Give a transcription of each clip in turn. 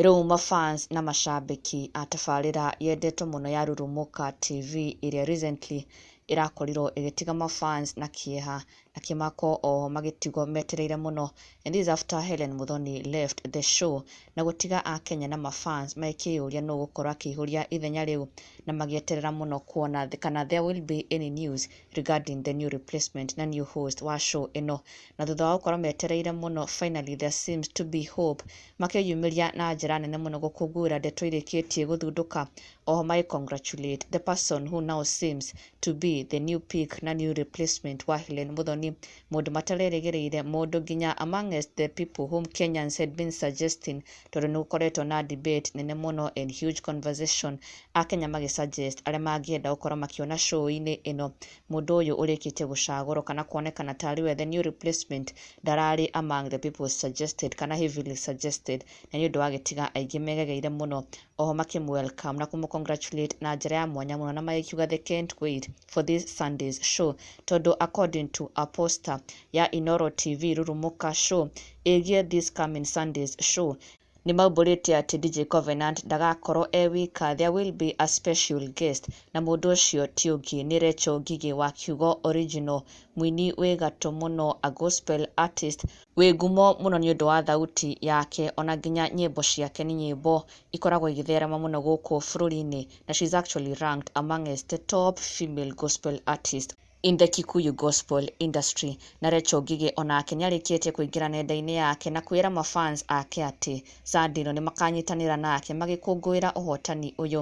Rĩu mafans na mashabiki a tabarĩra yendetwo mũno ya Rurumuka TV ĩrĩa recently ĩrakorirwo ĩgĩtiga mafans na kĩeha akĩmakwo oho magĩtigwo metereire mũno and this is after Hellen Muthoni left the show na gũtiga akenya na mafans makĩyũria nũ gũkorwo akĩihũria ithenya rĩu na magĩeterera mũno kuona kana there will be any news regarding the new replacement na new host wa show ĩno na thutha wa gũkorwo metereire mũno finally there seems to be hope makĩyumĩria na njĩra nene mũno gũkũngũĩra ndeto irĩkĩtie gũthundũka oho magĩ congratulate the person who now seems to be the new pick na new replacement wa Hellen Muthoni, mũndũ matarerĩgĩrĩire, mũndũ nginya amongst the people whom Kenyans had been suggesting, tondũ nĩ gũkoretwo na debate nene mũno and huge conversation, Akenya magĩ suggest arĩa mangĩenda gũkorwo makĩona show-inĩ ĩno, mũndũ ũyũ ũrĩkĩtie gũcagũrwo kana kuonekana ta arĩ we the new replacement, ndararĩ among the people suggested kana heavily suggested, na nĩ ũndũ wagĩtiga aingĩ megegeire mũno oho makĩmũ welcome na kũmũ congratulate na njĩra ya mwanya mũno na magĩkiuga they can't wait for this Sunday's show tondũ according to a poster ya Inoro TV Rurumuka show ĩgiĩ this coming Sunday's show nĩ maumbũrĩte atĩ DJ Covenant ndagakorwo e wika there will be a special guest na mũndũ ũcio ti ũngĩ nĩ Recho Ngigĩ wa Kiugo Original mũini wĩ gatũ mũno a gospel artist wĩ ngumo mũno nĩ ũndũ wa thauti yake, ona nginya nyĩmbo ciake nĩ nyĩmbo ikoragwo igĩtherema mũno gũkũ bũrũri-inĩ, na she is actually ranked amongst the top female gospel artists in the Kikuyu gospel industry. Na Recho Ngigĩ onake nĩ arĩkĩtie kũingĩra nenda-inĩ yake na kwĩra ma fans ake atĩ Sunday ĩno nĩ makanyitanĩra nake magĩkũngũĩra ũhotani ũyũ.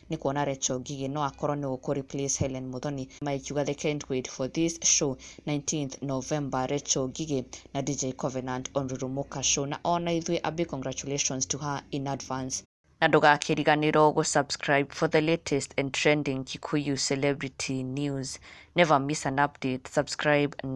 nĩ kuona Recho Ngigĩ no akorwo nĩwe ũkũ replace Hellen Muthoni Maya ikiuga they can't wait for this show 19th November Recho Ngigĩ na DJ Covenant on Rurumuka show na ona ithuĩ a big congratulations to her in advance na ndũgakĩriganĩrwo gũ subscribe for the latest and trending Kikuyu celebrity news never miss an update subscribe now